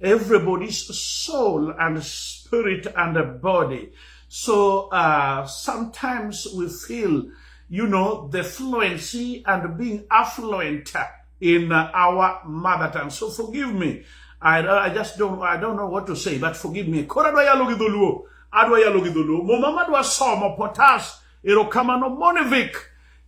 everybody's soul and spirit and a body. So uh, sometimes we feel, you know, the fluency and being affluent in uh, our mother tongue. So forgive me. I, I just don't I don't know what to say, but forgive me. Kora dwa yalo gi dholuo. Adwa yalo gi dholuo. Muma madwa somo potas erokamano monivik.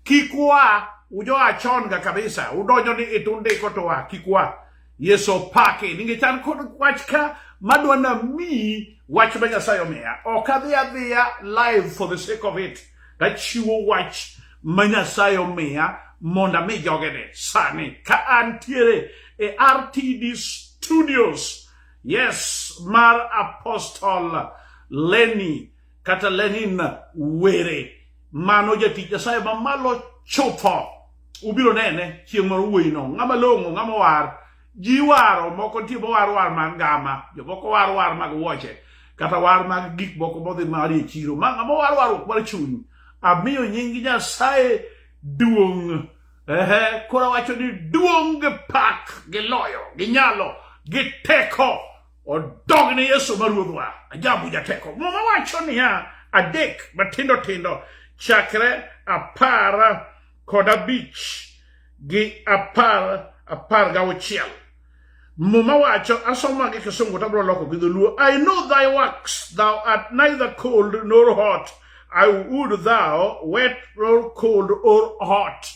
Kikwa ujo achon ga kabisa. Udonjo ni itundiko to wa kikwa. Yesu opaki nikech an kod wach ka madwa namiyi wach ma Nyasaye omiya. Ok adhi adhiya live for the sake of it. Tachiwo wach ma Nyasaye omiya mondo ami jogene sani ka antiere e RTD Studios. Yes, mar Apostle Lenny kata Lenin were mano jatich Nyasaye mamalo chutho ubiro nene chieng' moro wuoyi no ng'ama long'o ng'ama war ji waro moko nitie mowar war mag ngama jomoko war war mag wuoche kata war mag gik moko modhi mari e chiro ma ng'ama war warruok mar chuny amiyo nying Nyasaye duong' ehe koro wacho ni duong' gi pak gi loyo gi nyalo gi teko odog ne Yesu ma ruodhwa ajabu jateko muma wacho niya adek matindo tindo chakre apar kod abich gi apar apar ga auchiel muma wacho asoma gi kisungu tabro loko gi dholuo i know thy works thou art neither cold nor hot i would thou wet nor cold or hot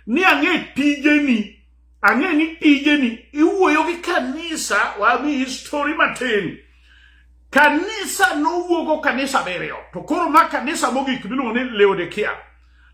ni ang'e tijeni Ang'e ni tijeni iwuoyo gi kanisa wami histori matin. Kanisa nowuogo kanisa abiriyo to koro ma kanisa mogik miluongo ni Laodikia.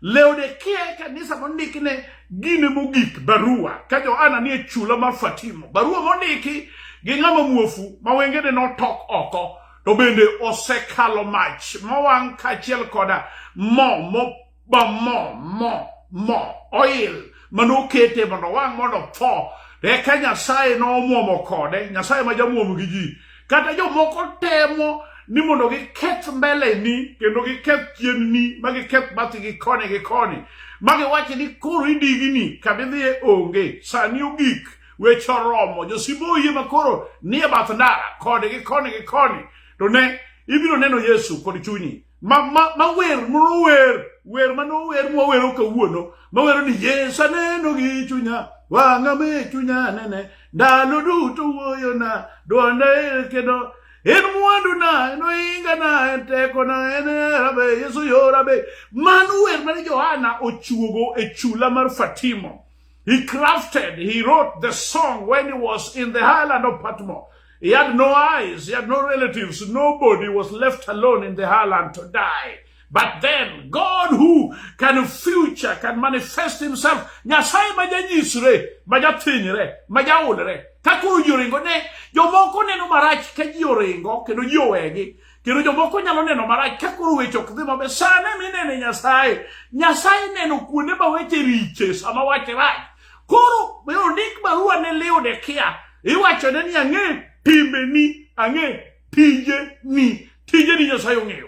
Laodikia e kanisa mondiki ne gine mogik barua ka Johana nie chula mar Fatimo. Barua mondiki gi ng'ama muofu ma wengene notok oko to bende osekalo mach mowang' kaachiel koda mo ba mo mo mo oil manokete mondo wang' mondo tho eka nyasaye nomwomo kode nyasaye ma jamwomo gi ji kata jomoko temo ni mondo giketh mbeleni kendo giketh chienni ma giketh bathi gi koni gi koni ma giwachi ni koro idigini kamidhiye onge sani ogik weche oromo josibo oyie ma koro nie bath ndara koni gi koni gi koni to ne ibiro neno yesu kod chunyi ma ma ma wer moro wer wer ma no wer mo wero kawuono ma wero ni Yesu aneno gi chunya wang'a me chunya nene ndalo duto wuoyo na dwonda e kendo en mwandu na en oinga na en teko na en hera be Yesu yora be mano wer mane Johana ochuogo e chula mar Fatimo He crafted, he wrote the song when he was in the island of Patmos. He had no eyes, he had no relatives, nobody was left alone in the island to die. But then God who can future can manifest himself nyasaye majanyisre majathinyre majaulre ka koro ji oringo ne jomoko neno marach ka ji oringo kendo ji owegi Kendo jomoko nyalo neno marach ka koro weche ok dhi maber. Sane minene Nyasaye. Nyasaye neno kuonde ma weche riche sama wache rach. Koro be ondik barua ne liw ne kia. Iwacho ne ni ang'e timbe ni, ang'e tije ni. Tije ni Nyasaye ong'eyo.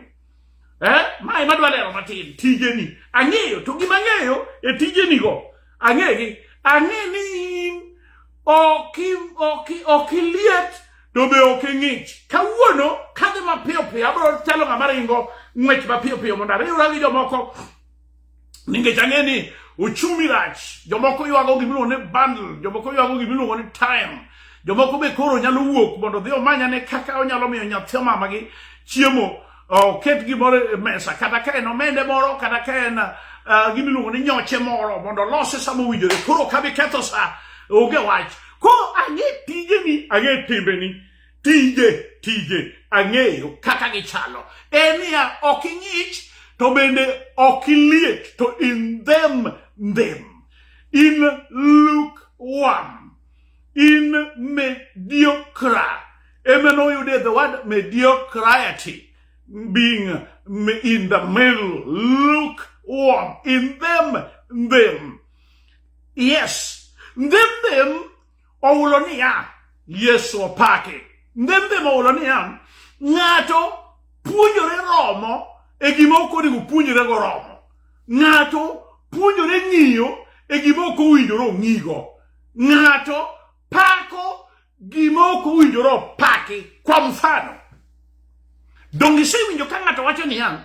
Eh, mae madwa lero matin, tije ni. Ang'eyo, to gima ang'eyo e tije ni go. ang'e gi ang'e ni in ok iliet to be ok ing'ich kawuono kadhi mapiyo piyo abro chalo ng'ama ringo ng'wech mapiyo piyo mondo ariwra gi jomoko nikech ang'e ni uchumi rach jomoko ywago gimiluongo ni bundle jomoko ywago gimiluongo ni time jomoko be koro nyalo wuok mondo odhi omanyane kaka onyalo miyo nyathi omamagi chiemo oket gimoro e mesa kata ka en omende moro kata ka en uh, gimiluongo ni nyoche moro mondo olose sama owinjore koro ok abi ketho sa onge wach koro ang'e tijeni ang'e timbeni tije tije ang'eyo kaka gichalo en niya ok ing'ich to bende ok iliet to in them them in luke one in mediocre eme noyude the word mediocrity being in the middle lukewarm in them them yes them them owulo niya yesu opake them them owulo niya ng'ato puonjore romo e gima ok onego puonjore go romo ng'ato puonjore ng'iyo e gima ok owinjore ong'igo Ng'ato pako gima ok owinjore opaki. Kwa mfano, donge isewinjo ka ng'ato wacho niya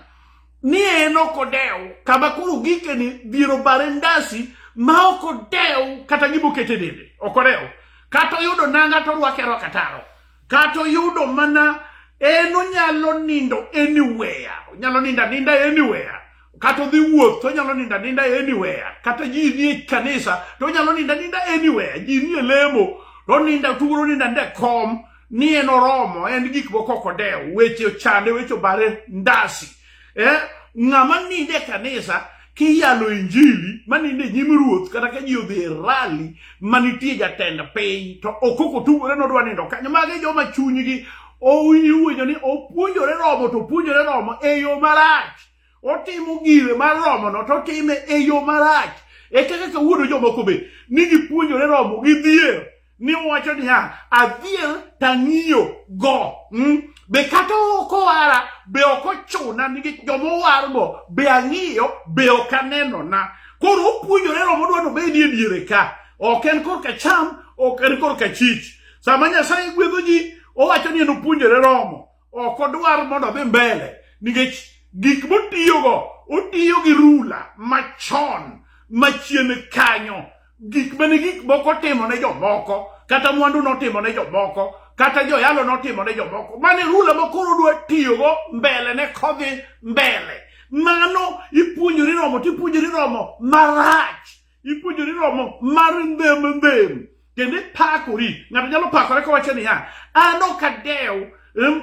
ni en ok odewo kama koro gikeni dhier obare ndasi ma ok odewo kata gima okete dende ok odewo kata oyudo nanga to orwake arwaka taro kata oyudo mana en onyalo nindo anywhere onyalo nindo aninda anywhere kata odhi wuoth to onyalo ninda ninda anywhere kata ji ni e kanisa to onyalo ninda ninda anywhere ji ni e lemo to ninda tuguro ninda nde kom ni en oromo en gik moko ok odewo weche ochande weche obare ndasi eh? ng'ama ninde kanisa kiyalo injili maninde nyim ruoth kata ka ji odhi e rali manitie jatend piny to okoko tugore nodwa nindo kanyo magi joma chunygi owinjo ni opuonjore romo to opuonjore romo e yo marach otimo gire mar romono to otime e yo marach e kaka kawuono jomoko be ni gipuonjore romo gidhier ni wacho niya adhier tang'iyo go mm? be kata ok owara be ok ochuna nikech joma owargo be ang'iyo be ok anenona koro opuonjore romo dwa nobedi e diere ka ok en korka cham ok en korka chich sama nyasaye gwedho ji owacho ni en opuonjore romo ok odwar mondo odhi mbele nikech gik motiyogo otiyo gi rula machon machien kanyo gik mane gik moko timo ne jomoko kata mwandu notimo ne jomoko kata joyalo notimo ne jomoko mane rula ma koro dwa tiyogo mbele ne kodhi mbele mano ipuonjori romo tipuonjori romo marach ipuonjori romo mar ndhem ndhem kendo ipakori ng'ato nyalo pakore kowacho niya an ok adew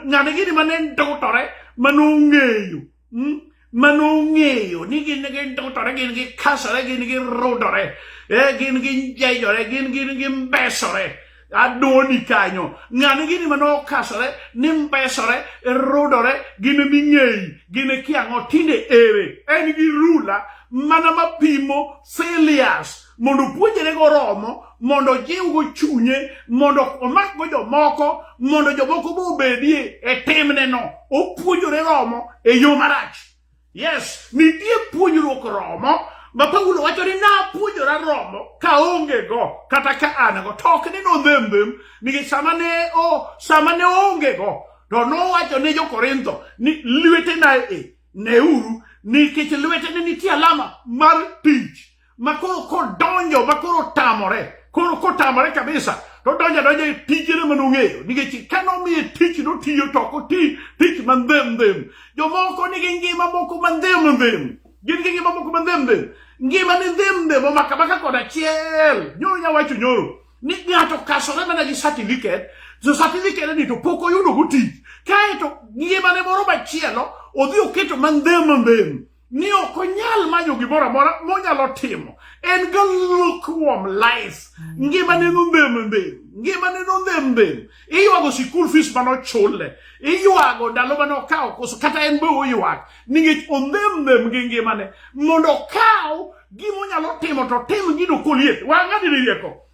ng'ane gini mane ndutore mane ong'eyo hmm? mane ong'eyo ni gin gi ndutore gin gi kasore gin gi rudore eh, gin gi njejore gin gin gi mbesore adoni kanyo ng'ani gini mane okasore ni mbesore rudore gin ming'eyi gin kiang'o tinde ere en gi rula mana mapimo silias mondo puonjre go romo mondo jiwgo chunye mondo omakgo jomoko mondo jomoko be obedie e timneno opuonjore romo e yo marach Yes, nitie puonjruok romo ma Paulo wacho ni napuonjora romo ka onge go kata ka an go to ok ni nodhembem nikech sama ne o sama ne onge go to nowacho ne jo-Korintho ni lwetena e neuru nikech lwetene nitie alama mar tich ma koro kodonjo ma koro otamore koro kotamore kabisa to donjo adonja e tijene ma nong'eyo nikech ka nomiye tich notiyo to ok oti tich mandhem ndhem jomoko nigi ngima moko mandhem ndhem gin gi ngima moko mandhem ndhem ngima ni ndhem ndhem omaka maka kod achiel nyoro nyawacho nyoro ni ng'ato kasore mana gi certificate so certificate ni to pok oyudo go tich kaeto ngimane moro machielo odhi oketo mandhem ndhem ni ok onyal manyo gimoro amora monyalo timo en ga lukewarm life mm. ngimane nondhem ndhem ngimane nondhem ndhem iywago sikul fees mane ochule iywago ndalo mane okawo koso kata en be oywag ningech ondhem ndhem gi ngimane mondo okaw gimonyalo timo to tim gino koliet wang'adini rieko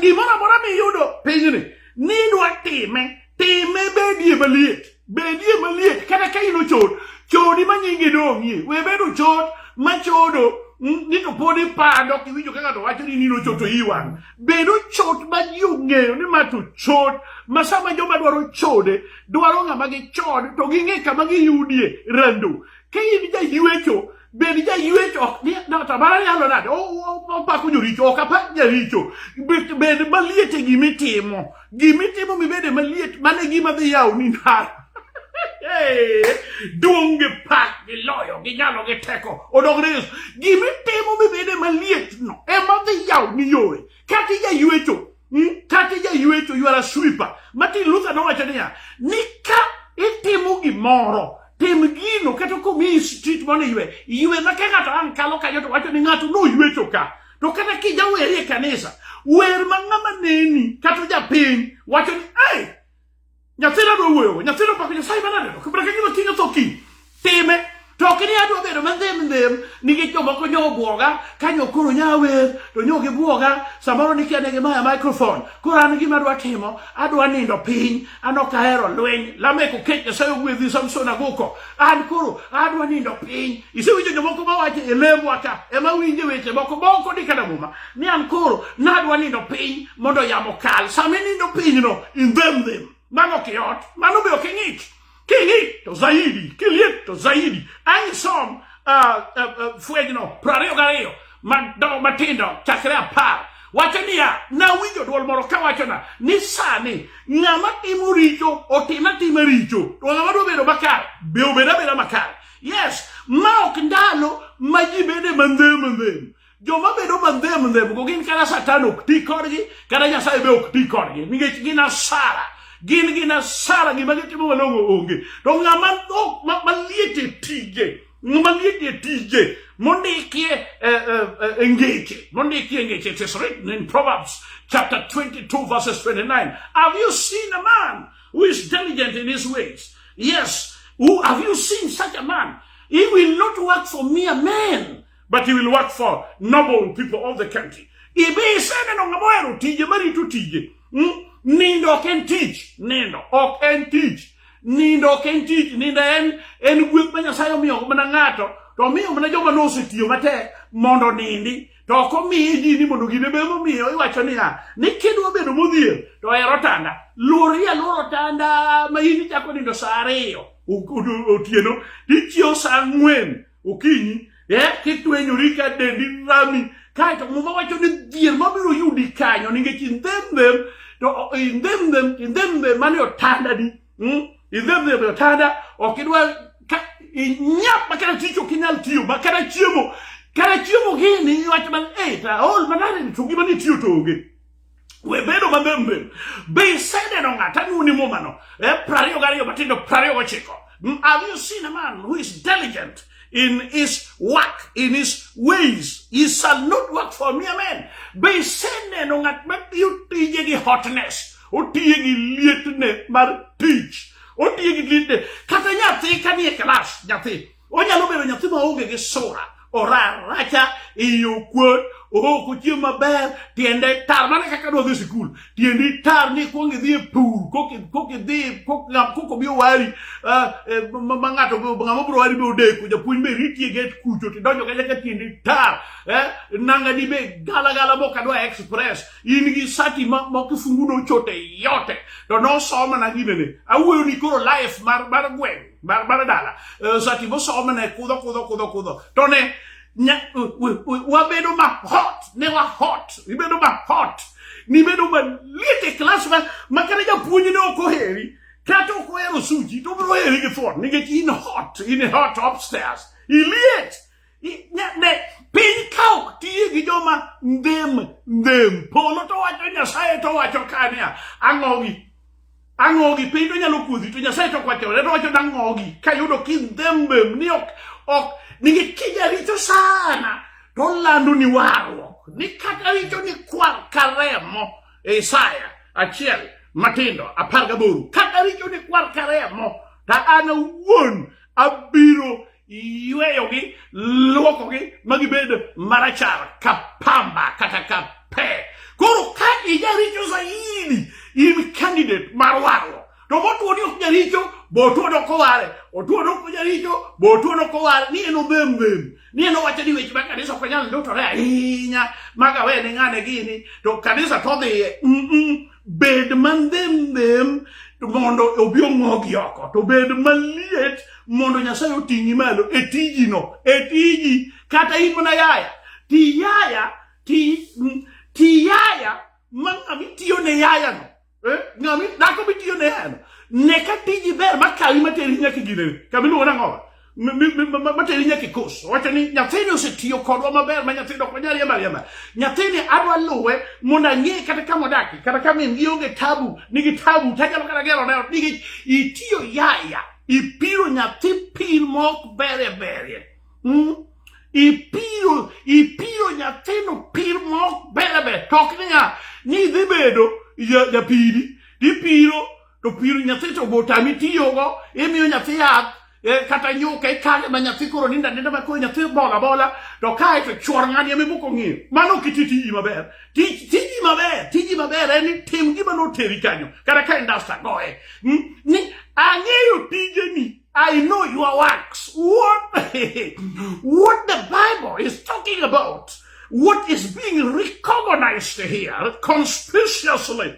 Gimoro amora miyudo pinyni nidwa time time bedie maliet bedie maliet kata ka in ochod chodi ma nyingi dong'ie we bedo chod machodo ni to pod ipando ok iwinjo ka ng'ato wacho ni nino chot to iwang' bedo chot ma ji ong'eyo ni ma to chot ma sama joma dwaro chode dwaro ng'ama gichod to ging'e kama giyudie rando ka in jaywecho Bende jayuech ok ni tamara nyalo nade opako joricho ok apa jaricho bende maliet e gima itimo gima itimo mibede maliet mano e gima dhi yawo ni ndara duong' gi pak gi loyo gi nyalo gi teko odog ne yesu gima itimo mibede malietno ema dhi yawo ni yore Kata ija yuecho, hmm? kata ija yuecho, you are a sweeper. Martin Luther nowacho niya, ni ka itimo gimoro tim gino kata komiyi street mondo iywe iywe ma ka ng'ato ang' kalo kanyo to wacho ni ng'ato noywecho ka to kata kijaweri e kanisa wer ma ng'ama neni kata japiny wacho ni hey, Nyathina dwa wuoyogo, nyathina pako Nyasaye mana neno, kibra ka gima kinyo tho kiny. Time, to ok ni adwa bedo mandhem ndhem nikech jomoko nyo obwoga ka nyo koro nya wer to nyo gibwoga samoro nikia ne gimaya microphone koro an gima adwa timo adwa nindo piny an ok ahero lweny lamek okech nyasaye ogwedhi samson aguko an koro adwa nindo piny isewinjo jomoko mawacho e lembwa ka ema winje weche moko moko ni kata muma ni an koro nadwa nindo piny mondo yamo kal sama inindo pinyno indhem them mano ok yot mano be ok ing'ich king'ich to zaidi kiliet to zaidi ang' isom uh, uh, uh, fwenyno prariyo gariyo madongo matindo chakre apar wacho niya nawinjo dwol moro ka wachona ni sani ng'ama timo richo otim atima richo to ng'ama dwa bedo makare be obed abeda makare yes ma ok ndalo ma ji bede mandhem mandhem Joma bedo mandhem ndhem go gin kata satan ok ti kodgi kata nyasaye be ok ti kodgi nikech gin asara gin gin asara gima gitimo malong'o onge to ng'ama maliet e tije ng'ama liet e tije mondikie e, e, e, e ngeche mondikie ngeche it is written in proverbs chapter 22 verses 29 have you seen a man who is diligent in his ways yes who, have you seen such a man he will not work for mere men but he will work for noble people of the country. Ibi iseneno ng'ama ohero tije marito tije. Hmm? Nindo ok en tich. Nindo ok en tich. Nindo ok en tich. Nindo en en gweth ma Nyasaye omiyo mana ng'ato to omiyo mana joma nosetiyo matek mondo nindi to ok omiye ji ni mondo gine be momiyo iwacho niya ni kidwa bedo modhier to hero tanda luori aluoro tanda ma in ichako nindo sa ariyo otieno tichiewo sa ang'wen okinyi eh, kitwenyori ka dendi rami kaeto muma wacho ni dhier mabiro yudi kanyo nikech indhemdhem to indhemdhem indhemdhem mane otandani hmm? indhemdhem e otanda ok idwa inyap ma kata tich ok inyal tiyo ma kata chiemo kata chiemo gini iwacho mana e eh, taol manade to gima nitiyo to onge we bedo maber mbem be iseneno ng'at anuni mumano e eh, prariyo gariyo matindo prariyo gochiko mm, have you seen a man who is diligent in his work in his ways he shall not work for me amen be iseneno ng'at matiyo tije gi hotness otiye gi lietne mar tich otiye gi lietne kata nyathi kanie klas nyathi Onyalo bedo nyathi ma onge gi sura, oraracha, iye okuot, ook ochiem maber, tiende tar mana kaka dwa dhi sikul. Tiendi tar ni kwong idhi e pur, kok idhi, kok obi owari, eh, eh, ma ng'ato ng'ama biro wari be odeko, japuonj be riti e get kucho, tidonjo kacha ka tiendi tar, eh, nangani be gala gala mok adwa express, in gi sati ma kifungu nochote yote, to nosoma na ginene. Awuoyo ni koro life mar gweng'. bara dala eh, sati bo somo ne kudho kudho kudho kudho to ne wabedo ma hot ne wa hot ibedo ma hot nibedo maliet e klas ma kata japuonj ne ok oheri kata ok ohero suji to obiro heri gi thuon nikech in hot in hot upstairs iliet piny ka ok tiye gi joma ndhem ndhem polo to wacho nyasaye to wacho kania ang'ogi ang'ogi piny to nyalo kuodhi to nyasaye to kwachore to wacho nang'ogi kayudo kindhembem ni ok ok nigi kija richo sana to lando ni warruok ni kata richo ni kwar ka remo e isaya achiel matindo apar gaboro kata richo ni kwar ka remo ta an awuon abiro yweyogi lwokogi ma gibed marachar ka pamba kata ka pe koro ka ijaricho zaidi in candidate mar warruok to motuo ni ok jaricho botuo dok oware otuo dok jaricho botuo dok oware ni en odhem dhem ni en owacho ni weche ma kanisa ok nyal ndotore ahinya magawe ne ng'ane gini to kanisa to odhiye mm -mm. bed mandhemndhem mondo obi ong'ogi oko to bed maliet mondo nyasaye oting'i malo e tijino e tiji kata in mana yaya ti yaya ti ti yaya ma ng'ama itiyo ne yayano eh? ng'ama dhako mitiyo ne yayano ne ka tiji ber makawi materi nyaka ginene kamiluongo nang'owa materi nyaka kos wacho ni nyathini osetiyo kodwa maber ma nyathini dok manyal yemba yemba nyathini adwa luwe mondo ang'e kata kama odakie kata ka min gi onge tabu nigi tabu to anyalo kata gero ne ot nikech itiyo yaya ipiro nyathi pir mok berie berie mm? ipiro ipiro nyathino pir mok berie berie to ok niya ni idhi bedo japiri tipiro to pir nyathi to botami tiyogo imiyo nyathi yath eh, kata nyuka ikane ma nyathi koro ninda ninda ma koro nyathi bola bola to kae to chuor ng'ani ema iboko ng'iyo mano ok iti tiji maber Tij- tiji maber tiji maber en ni tim gima noteri kanyo kata ka indasta goye Mm, ni ang'eyo tijeni I know your works. What, what the Bible is talking about, what is being recognized here conspicuously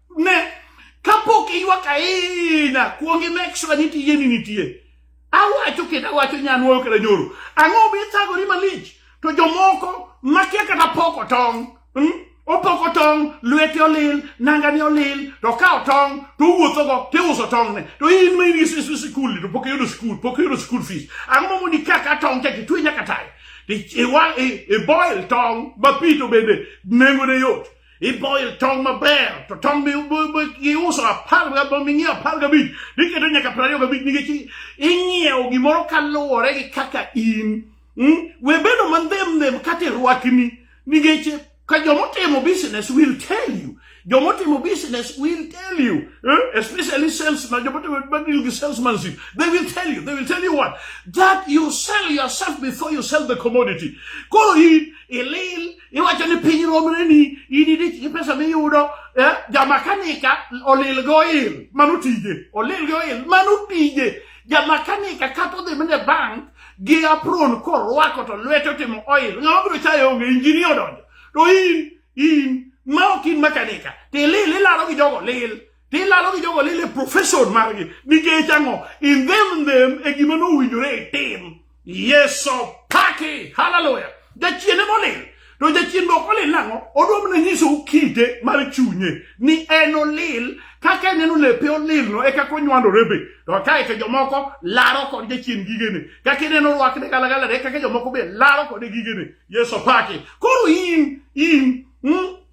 Ne, kapok iywak aina, kuongi make sure ni tije ni nitie. Awacho kendo awacho nyanwoyo kata nyoro. Ang'o mithagori malich? To jomoko makia kata poko tong'. Hmm? Opoko tong', lwete olil, nangane olil, to okawo tong' to owuothogo to iuso tong'ne. To in ma in gi sikul to pok iyudo skul, pok iyudo skul fees. Ang'o ma mondo ika ka tong' cha kitwe nyaka tayo? Iboil tong' ma pi to bende nengone yot. Iboyo tong maber to tong giuso apar gabom ing'iewo apar gabich niketo nyaka piero ariyo gabich nikech ing'iewo gimoro kaluwore gi kaka in hmm? we bedo mandhem ndhem kata irwakni nikech ka jomotimo business will tell you jomotimo business will tell you eh? especially salesman jomotimo deal gi salesmanship they will tell you they will tell you what that you sell yourself before you sell the commodity koro in ilil iwacho ni piny romre ni in idich gi pesa miyudo eh, jamakanika olil go il mano tije olil go il mano tije jamakanika kata odhi mene bank gi apron korwako to lwete otimo oil ng'ama biro chayo onge injinia odonjo to in in ma ok in makanika to ilil ilaro gi jogo lil Gilalo gi jogo lile profession margi nikech ang'o? In them them e gima nowinjore itim. Yeso paki. Hallelujah. Jachien ema olil. To jachien be ok olil nang'o? Odwa mana nyisou kite mar chunye ni en olil kaka eneno lepe olilno e kaka onywandore be to kae to jomoko laro kod jachien gigene kaka ineno rwakne galagala e kaka jomoko be laro kode gigene yeso paki koro in in mm,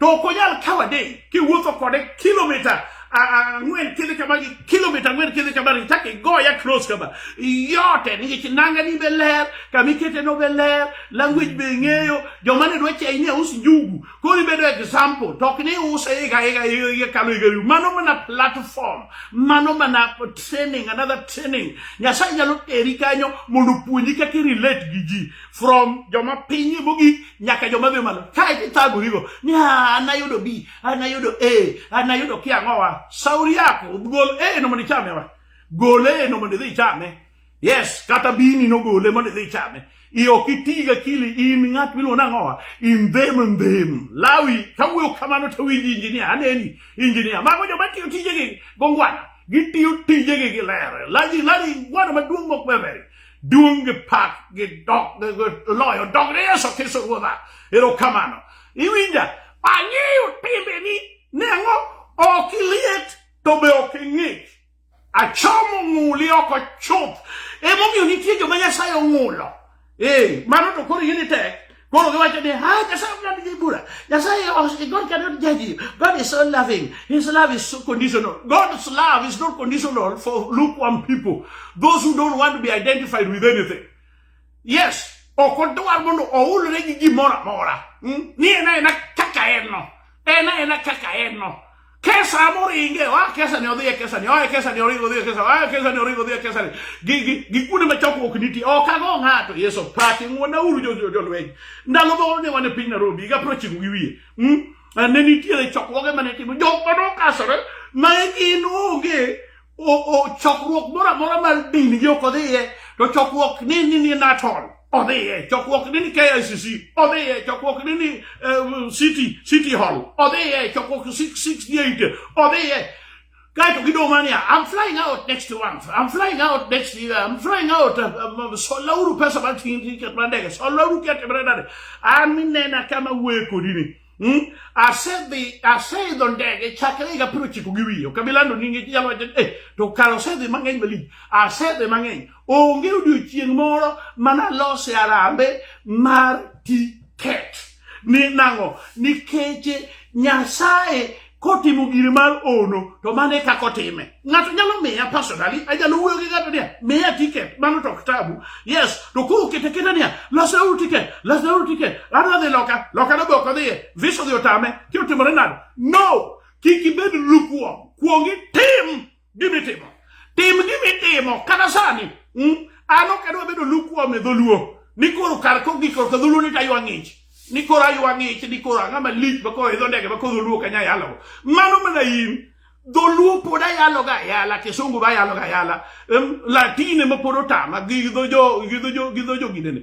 to ok onyal kawo adeng' kiwuotho kode kilomita ang'wen kidhi kama gi kilomita ang'wen kidhi kama ri chak igoya close kama yote nikech nanga ni be ler kama ikete no be ler language be ing'eyo joma ne dwa chayi ni aus njugu koro ibedo example to ok ni use higa higa higa kalo higa higa mano mana platform mano mana training another training nyasaye nyalo teri kanyo mondo opuonji kaka irelate gi ji from joma piny mogik nyaka joma biro malo kae tithagorigo ni anayudo b anayudo a anayudo kiang'owa sauri yako gol a no mondo ichame wa gol a no mondo idhi ichame yes kata bini nogole mondo idhi ichame i ok itiga kili in ng'at miluongo nang'owa indhem ndhem lawi kawuoyo kamano to winji injinia aneni injinia mago joma tiyo tijegi gongwana gitiyo tijegi gi ler laji lari gwano maduong' mok beberi Duong' gi pak gi dok gi loyo dog ni Yesu Kristo Ruodha. Erokamano. Iwinja? Ang'eyo timbeni. Ne ang'o? Ok iliet to be ok ing'ich. Achomo ng'uli oko chuth. Emomiyo nitie joma Nyasaye ong'ulo. Ee, mano to koro in itek. Koro giwacho ni, ha, Nyasaye ok ng'ad bura. Nyasaye, os- God cannot judge you. God is so loving. His love is so conditional. God's love is not conditional for lukewarm people, those who don't want to be identified with anything. Yes, ok odwar mondo oulre gi gimoro amora. Mm? Ni en aena kaka en no. en ena kaka en no kesa moringe wa kesa ne odhi e kesa ni oa kesa ni oringo odhi e kesa oa kesa ni oringo odhi e kesa ni gi gi gi kuonde ma chokruok nitie ok ago ng'ato yeso paki ng'wona uru jo jo jolweny ndalo go ne wan e piny Nairobi higa piero ochiko gi wiye mm? ne nitiere chokruoge mane timo jok mane okasore ma gin onge chokruok moro amora mar dini gi ok odhiye to chokruok ni ni ni natol odhiye chokruok ni ni KICC odhiye chokruok ni ni eh, city city hall odhiye chokruok 668 odhiye kaeto gidong' mania I'm flying out next month I'm flying out next year I'm flying out uh, um, um, solauru pesa mar tiket mar ndege solauru kete mar ndege an minena kama wuoye kodi ni Hmm? Asedhi aseidho ndege chakre higa piero chiko gi wiye okabilando nyinge nyalo wacho eh to kar osedhi mang'eny malich asedhi mang'eny onge odiochieng' moro mana lose arambe mar tiket ni nang'o nikech nyasaye kotimo gire mar ono to mano e kaka otime ng'ato nyalo miya personally anyalo wuoyo gi ng'ato niya miya tiket mano to ok tabu yes to koro kete keta niya lasauru tiket lasauru tiket adwa dhi loka loka no be ok odhiye visa odhi otame ti otimore nade no kik ibed lukuom kuong itim gimitimo tim gimitimo kata sani hmm? an ok adwa bedo lukuome dholuo ni koro kar kogik korka dholuo ni taywa ng'ich ni koro aywa ng'ich ni koro ang'a malich ma koro idho ndege ma koro dholuo kanya yalogo mano mana in dholuo pod ayaloga ayala kisungu ba ayaloga ayala latine ma pod otama gi dho jo gi dho jo gi dho jo gidene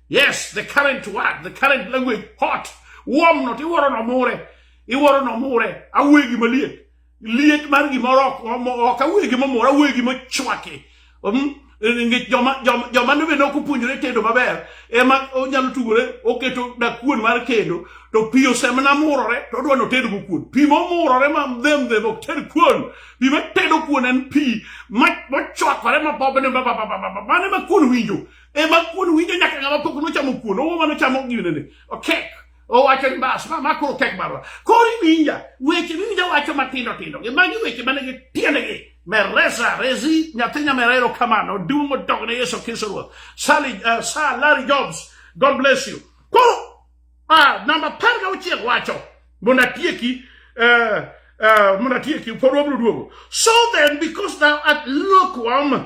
Yes, the current word, the current language, hot, warm not, iwuoro nomure, iwuoro nomure, awuoyo gima liet. Liet mar gimoro ok ok awuoyo gima mora, awuoyo gima chwaki. Um, nikech joma joma joma ne bende ok opuonjore tedo maber ema onyalo tugore oketo dakuon mar kendo to pi osemna murore to odwa notedgo kuon pi momurore ma them them ok ted kuon pi matedo kuon en pi machwakore mabobne mane ma kuon winjo ema kuon winjo nyaka ng'ama pok nochamo kuon owo mano chamo ginene okek owacho ni bas ma makoro kek marwa koro iwinja weche miwinja wacho matindo tindo gi magi weche mane gi tiendegi meresa resi nyathi nyamerero kamano duong' odog ne yesu kristo ruoth sali uh, sa larry jobs god bless you koro uh, namba par ga auchiel wacho mondo atieki uh, uh, mondo atieki pod wabiro duogo so then because thou art lukewarm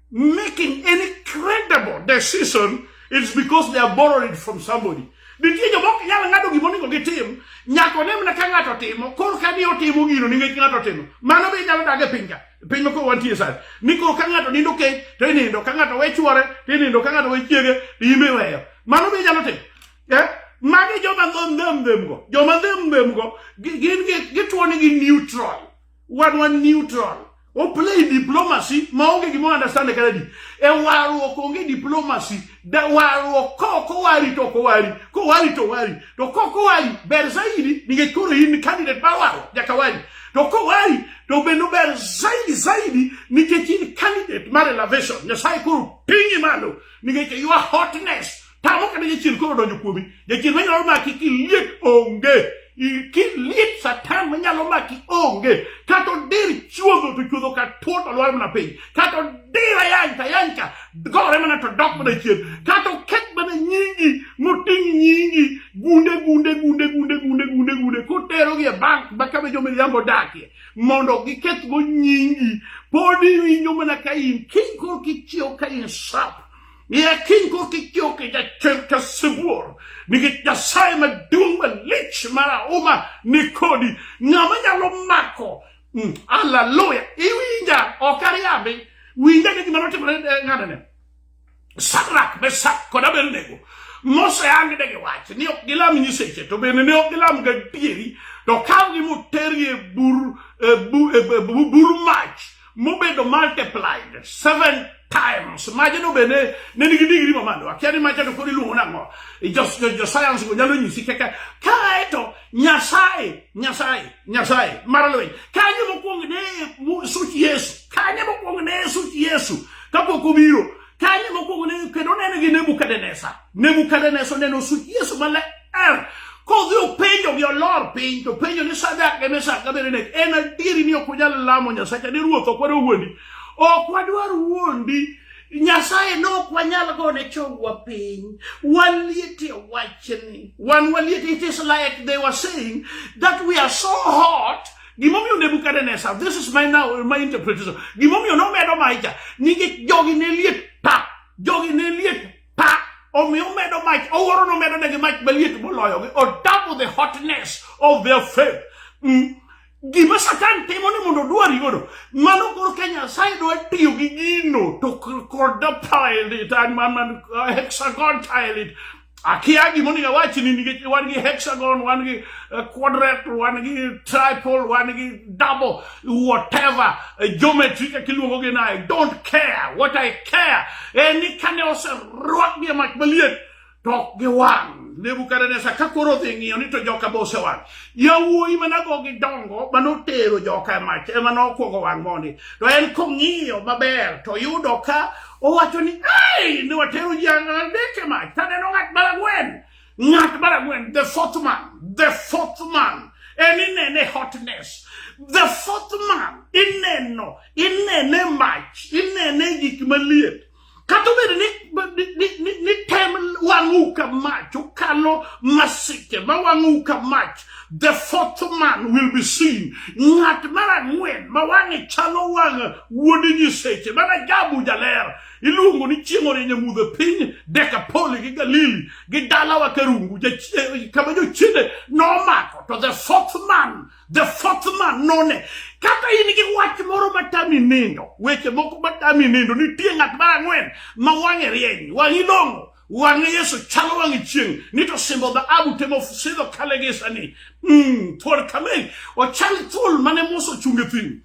making any credible decision, it's because they are borrowed from somebody. Nitie joma ok nyal ng'ado gima onego gitim, nyaka one mana ka ng'ato timo, koro ka ni otimo gino nikech ng'ato timo. Mano be inyalo dag e piny ka, e piny ma koro wantie sani. Ni koro ka ng'ato nindo kech, to inindo, ka ng'ato we chwore, to inindo, ka ng'ato we chiege, to in be iweyo. Mano be inyalo timo. Eh? Magi joma ndhemndhemgo, joma ndhemndhemgo, gi- gin gi- gituo ni gi neutral. wan wan neutral o play diplomacy maonge gima understand kata di e warruok onge diplomacy da warruok ko ko wari to ko wari ko wari to wari to ko ko wari ber zaidi ninge koro in candidate ba waro jaka wari to ko wari to bendo ber zaidi zaidi ninge in candidate mar elevation nyasaye koro pingi malo ninge your hotness Tamo kata jachien koro donjo kuomi. Jachien manyalo maki kiliet onge. Kiliet satan manyalo maki onge. Kata odir chuodho to chuodho ka tuo to lwar mana piny. Kata odir ayany to ayany ka gore mana to dok mana chien. Kata oket mana nyingi moting' nyingi gunde gunde gunde gunde gunde gunde gunde koterogi e bank ma kama jo miriambo dakie mondo gikethgo nyingi. Pod iwinjo mana ka in kiny koro kichiewo ka in sap. Niyakin ko kityo kita chemka sibuor. Nikech Nyasaye maduong' malich marahuma ni kodi. Ng'ama nyalo mako. Mm, hallelujah. Iwinja ok ariambi. Winja ni gima notimore eh, ng'atane. Sadrak, Mesak kod Abednego moseyangi de giwacho ni ok gilam nyiseche to bende ne ok gilam gadieri to kawgi motergi e bur e, e, e bur mach mobedo multiplied seven times majno bende ne nigi digri mamalo akia ni macha to kod iluongo nang'o josayans go nyalo nyisi kaka kaeto nyasaye nyasaye nyasaye mar lweny kanye mokwongo ne such yesu kanye mokwongo ne such yesu kapok obiro kanye mokwongo ne kendo nene gi nebukadnesa nebukadnesa oneno such yesu maler Eh, kodhi openjo gi olor piny to penjo ni sadak gi misak gi abednego en adieri ni ok unyal lamo nyasacha ni ruoth ok wadwa wuondi ok wadwar wuondi nyasaye ne ok wanyal gone chongwa piny waliete wachni wan waliete it is like they were saying that we are so hot gimomiyo nebukadnesa this is my, now, my interpretation gimomiyo nomedo maicha nikech jogi ne liet pa jogi ne liet Pa omiyo omedo mach owuoro nomedo negi mach maliet moloyogi o double the hotness of their faith mm. gima satan timo ni mondo odwari godo mano koro ka nyasaye dwa tiyo gi gino to kod pile it and man man uh, hexagon tile it akia gima onego awachi ni nikech wan gi hexagon wan gi uh, quadrat wan gi triple wan gi double whatever eh, geometry kaka iluongo gi naye don't care what i care en ni kane oserwak gi mach maliet to ok giwang nebukadnesa ka koro odhi ng'iyo ni to joka be osewang yawuoyi manago gi dongo manotero joka e mach ema nokwongo wang' mondi to en kong'iyo maber to yudo ka owacho ni ei ne watero ji adek e mach taneno ng'at maragwen ng'at mar ang'wen the fourth man the fourth man en inene hotness the fourth man ineno inene mach inene gik maliet kata obedo ni, ni, ni, ni, ni tem wang'u ka mach ukalo masiche ma wang'u ka mach the fourth man will be seen ng'at mar ang'wen ma wang'e chalo wang' wuod nyiseche mana jabu jaler iluongo ni chieng' orienye mudho piny dekapoli gi galili gi dalawa karungu eh, kama jochiende nomako to the fourth man the fourth man none kata in gi wach moro matami nindo weche moko matami nindo nitie ng'at mar ang'wen ma wang'e rieny wang'i long'o wang'e yesu chalo wang'e chieng' ni to simbo dhahabu temo sidho kale gisani mm, thuol kamel ochal thuol mane moso chunge thim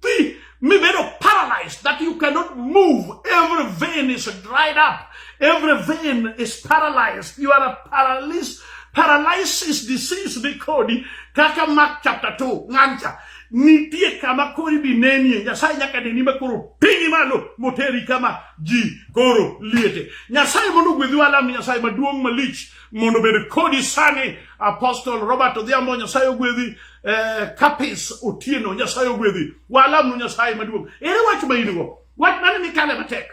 Ti mibedo paralyzed that you cannot move. Every vein is dried up. Every vein is paralyzed. You are a paralysis, paralysis disease nikodi kaka Mark chapter 2 ng'ancha nitie kama koro ibi nenie nyasaye nyaka neni ma koro pinyi malo moteri kama ji koro liete nyasaye mondo ogwedhi walam nyasaye maduong' malich mondo obed kodi sani apostle robert odhiambo nyasaye ogwedhi eh, kapis otieno nyasaye ogwedhi walamnu nyasaye maduong' ere wach ma in go wach mane mikale matek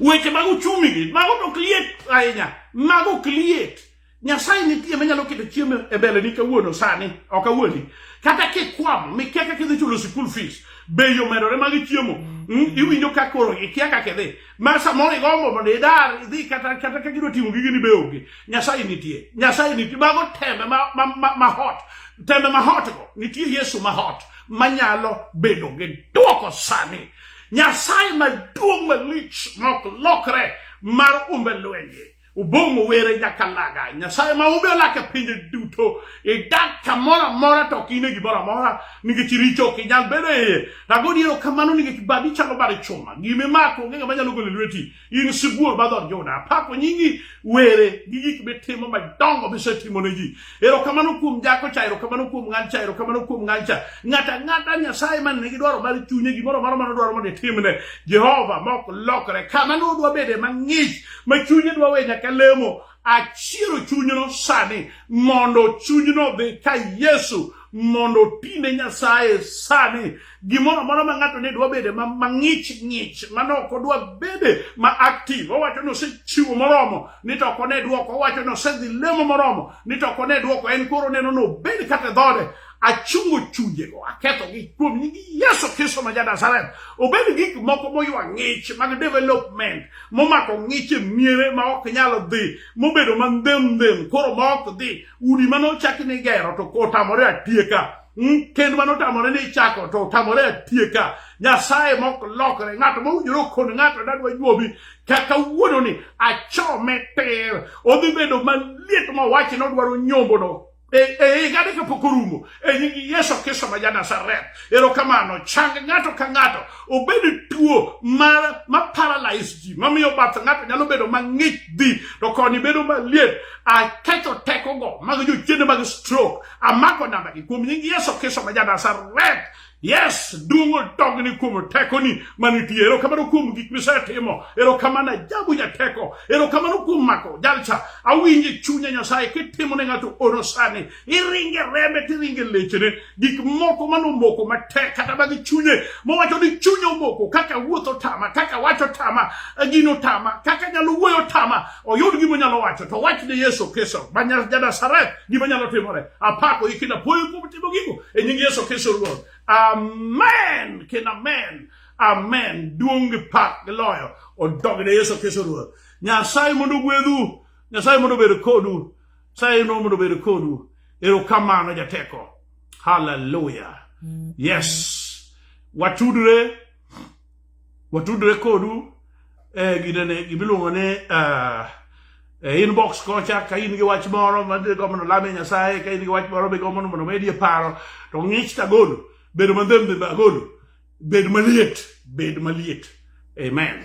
weche mag uchumi gi mago to ok liet ahinya mago ok liet nyasaye nitie manyalo keto chiemo e mbeleni kawuono sani ok awuondi kata kikwamo mikia kaka idhi chulo sikul fees bei omedore mag chiemo mm, iwinjo ka koro ikia kaka idhi ma samoro igombo mondo idar idhi kata kata ka gidwa timo gigi ni be onge nyasaye nitie nyasaye nitie mago tembe ma, ma, ma, ma hot tembe ma hot go nitie yesu ma hot manyalo bedo gi duoko sani nyasaye maduong' malich mok lokre mar umbe lwenje Ubong owere nyaka laga. Nyasaye ma ube olake pinje duto. Idak kamoro amora to ok ine gimoro amora nikech richo ok inyal bedo e iye. Nago diero kamano nikech badi chalo bad chuma. Gime mako onge ng'ama nyalo golo lweti. In sibuor ma dhood Juda. Apako nyingi were gi gik mitimo madongo misetimo ne ji. Erokamano kuom jako cha, erokamano kuom ng'an cha, erokamano kuom ng'an cha. Ng'ata ng'ata Nyasaye man nigi dwaro mar chunye gimoro moro mano dwaro mondo itimne. Jehova mok lokre kama no dwa bede mang'ich ma chunye dwa we nyaka lemo. Achiero chunyno sani mondo chunyno dhi ka Yesu mondo tine Nyasaye sani gimoro amora ma ng'ato ne dwa bede mang'ich ng'ich mane ok odwa bede ma active owacho ni osechiwo moromo ni to ok one dwoko owacho ni osedhi lemo moromo ni to ok one dwoko en koro neno ni obed kata dhode achungo chunjego akethogi kuom nying yesu kristo ma janasaret obed gik moko moywa ng'ich mag development momako ng'ich e miere ma ok nyal dhi mobedo mandhemndhem koro ma ok dhi udi mane ochaki ni gero to kotamore atieka Hmm? kend mane otamore ni ichako to otamore atieka nyasaye mok lokre ng'ato mowinjore okon ng'ato dadwa juobi kaka wuono ni achome ter odhi bedo maliet mowachi ni odwaro nyombono e, e higa ni kapok orumo e nying yesu kristo ma ja nazareth erokamano chang ng'ato ka ng'ato obed tuo ma, ma paralyze ji mamiyo bath ng'ato nyalo bedo mang'ich dhi to koni bedo maliet akecho tekogo mag jochiende mag stroke amako nambagi kuom nying yesu kristo ma janasaret yes duong' odogni kuom tekoni manitie erokamano kuom gik misetimo erokamano ajabu jateko erokamano kuom mako jalcha awinje chunya nyasaye kitimo ne ng'ato oro sani iringe rembe tiringe lechene gik moko manomoko matek kata mag chunye mowacho ni chunya omoko kaka wuotho tama kaka wacho tama gino tama kaka nyalo wuoyo tama oyud gima onyalo wacho to wach ne Yesu Kristo ma Janazareth gima nyalo timore apako iki na puoyo kuom timo gigo e nying Yesu Kristo Ruoth amen kendo amen amen duong' gi pak gi loyo odog ne Yesu Kristo Ruoth Nyasaye mondo ogwedhu Nyasaye mondo obed kodu Nyasaye mondo obed kodu erokamano jateko haleluya yes watudre watudre kodu e gidene gimiluongo ni uh, e inbox kocha ka in gi wach moro ma gombo ni olame nyasaye ka in gi wach moro migombo ni mondo omedi e paro to ng'ich to agolo bedo mandhembe be agolo bed maliet bed maliet amen